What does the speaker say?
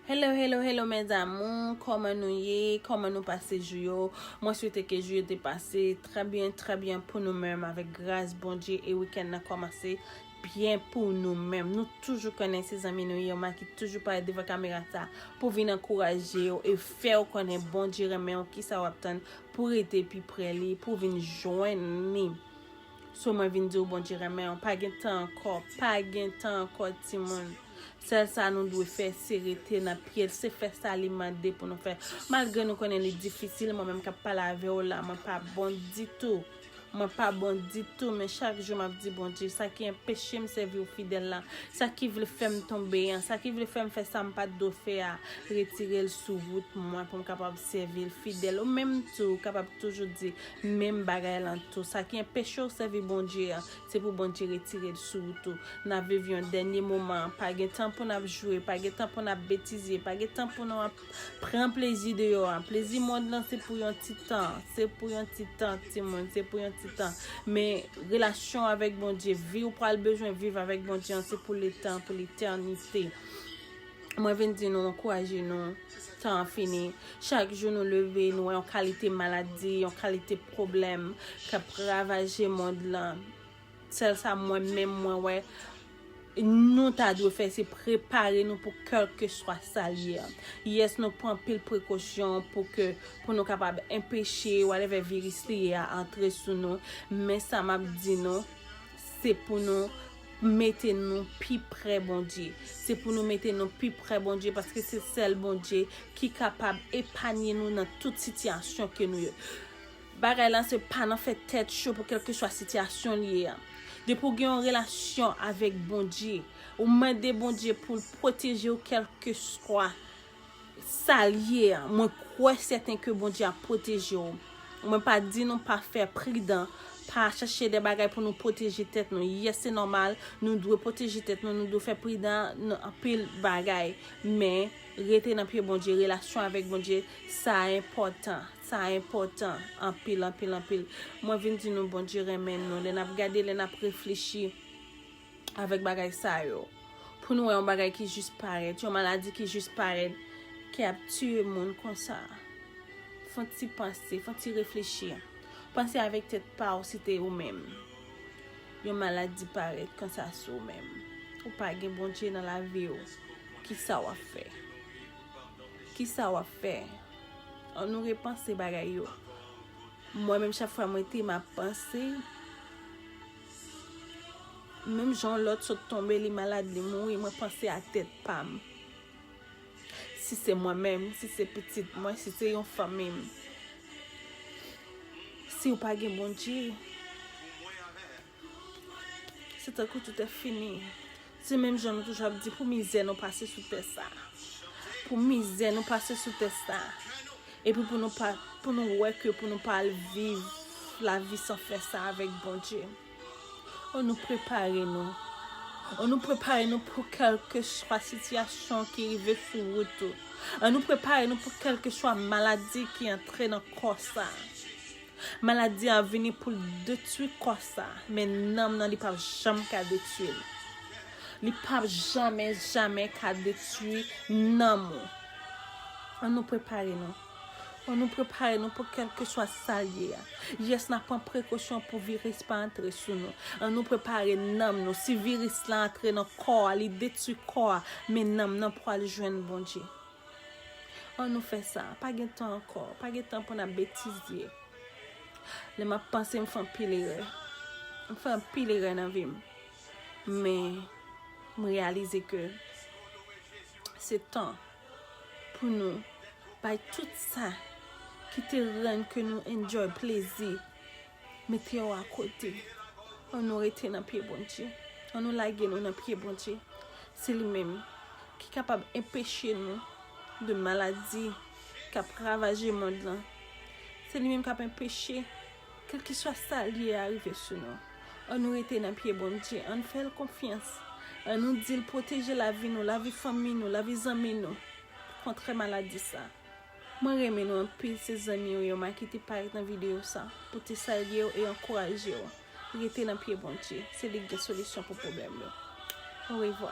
Hello hello hello mes amours koman nou ye koman nou pase jou yo mwen swete ke jou yo te pase trè byen trè byen pou nou menm avèk gras Bondye e wikèn nan komanse byen pou nou menm nou toujou konnen se zanmi nou Irma ki toujou parèt devan kamera sa pou vin ankouraje ou e fèw konnen Bondye renmenw kisa wap tann pou rete pi prè li pou vin jwenn li. So mwen vin diw Bondye renmenw pa gen tan ankò pa gen tan ankò timoun sèl sa nou dwe fè se rete nan pyel se fè sa li mande pou nou fè malgre nou konnen li difisil mwen menm kap pale avèw la mwen pa bon ditou mwen pa bon ditou men chak jou map di Bondye sa ki enpechem sèviw fidèl la sa ki vle fèm tonbe an sa ki vle fèm fè sam pat dwe fè a retirel sou wout mwen poum kapab sèvil fidèl ou menm tou kapab toujou di Menm bagay lan tou, sa ki enpeche w sèvi Bondye an, se pou Bondye retire l sou ou tou. N ap viv yon dènye moman, pa gen tan pou n ap jwe, pa gen tan pou n ap betize, pa gen tan pou nou ap pran plezi deyò a. Plezi mond lan se pou yon ti tan, se pou yon ti tan timoun, se pou yon ti tan. Men, relasyon w avèk Bondye, vi w pral bezwen viv avèk Bondye an, se pou letan, pou letènite. Mwen vin di nou ankouraje nou, tan an fini. Chak jou nou leve, nou wè yon kalite maladi, yon kalite pwoblèm k ap ravaje mond lan. Sèl sa mwen menm mwen wè, nou ta dwe fè se prepare nou pou kèlkeswa sa l ye. Yès nou pran anpil prekosyon pou ke pou nou kapab enpeche whatever viris li ye a antre sou nou. Men sa m ap di nou. Se pou nou mete nou pi pre Bondye. Se pou nou mete nou pi pre Bondye paske se sèl Bondye ki kapab epanye nou nan tout sitiyasyon ke nou ye. Bagay lan se pa nan fè tèt cho pou kelkeswa sitiyasyon li ye an. Depi ou gen yon relasyon avèk Bondye, ou mande Bondye pou l pwoteje ou kelkeswa Sal ye a mwen kwè sèten ke Bondye ap pwoteje w mwen pa di nou pa fè pridan pa chache de bagay pou nou pwoteje tèt nou yes se nòmal nou dwe pwoteje tèt nou nou dwe fè pridan nan anpil bagay men rete nan pye Bondye relasyon avèk Bondye sa enpòtan sa enpòtan anpil anpil anpil mwen vin di nou Bondye renmen nou lè nap gade lè nap reflechi. avèk bagay sa yo. Pou nou wè yon bagay ki jis parèt, yon maladi ki jis parèt, ki ap tiye moun konsa. Fon ti panse, fon ti reflechi. Panse avèk tèt pa ou si te ou menm. Yon maladi parèt konsa sou ou menm. Ou pa gen Bondye nan lavi ou. Ki sa w ap fè? Ki sa w ap fè? An nou repanse bagay yo. Mwen menm chak fwa mwen te m ap panse. Menm jan yon lòt sot tonbe li malad li mouri mwen panse a tèt pam si se mwen menm si se pitit mwen si se yon fanmi m siw pa gen Bondye se tankou toutè fini. Se menm jan nou toujou ap di pou mizè nou pase sou tè sa. Pou mizè nou pase sou tè sa. Epi pou nou pa, pou nou wè ke pou nou pa al viv la vi san fè sa avèk Bondye. An nou prepare nou. An nou prepare nou pou kelke swa sitiyasyon ki rive sou wout ou. An nou prepare nou pou kelke swa maladi ki antre nan kò sa. Maladi a vini poul detwi kò sa, men nanm nan li pap janm ka detwil. Li pap jamè jamè ka detwi nanm ou. An nou prepare nou. An nou prepare nou pou kelkeswa sal ye a. Yes na pran prekosyon pou viris pa antre sou nou. An nou prepare nanm nou. Si viris la antre nan kò a li detwi kò a, men nanm nan pwal jwenn Bondye. An nou fè sa, pa gen tan ankò, pa gen tan pou n ap betize. Lè m ap panse m fè anpil erè, m fè anpil erè nan vi m, men m reyalize ke se tan pou nou bay tout sa ki te rann ke nou enjoy plezi Mete yo a kote. An nou rete nan pye Bondye. An nou lage nou nan pye Bondye. Se li menm ki kapab enpeche nou de maladi k ap ravaje mond lan. Se li menm k ap enpeche kèlkeswa sa l ye a rive sou nou. An nou rete nan pye Bondye. An n fè l konfyans. An nou di l pwoteje lavi nou, lavi fanmi nou, lavi zanmi nou kontre maladi sa. Mwen renmen nou anpil se zanmiw yo ma kite parèt nan video sa pou te salyew e ankourajew rete nan pye Bondye se li k gen solisyon pou pwoblèm yo orevwa.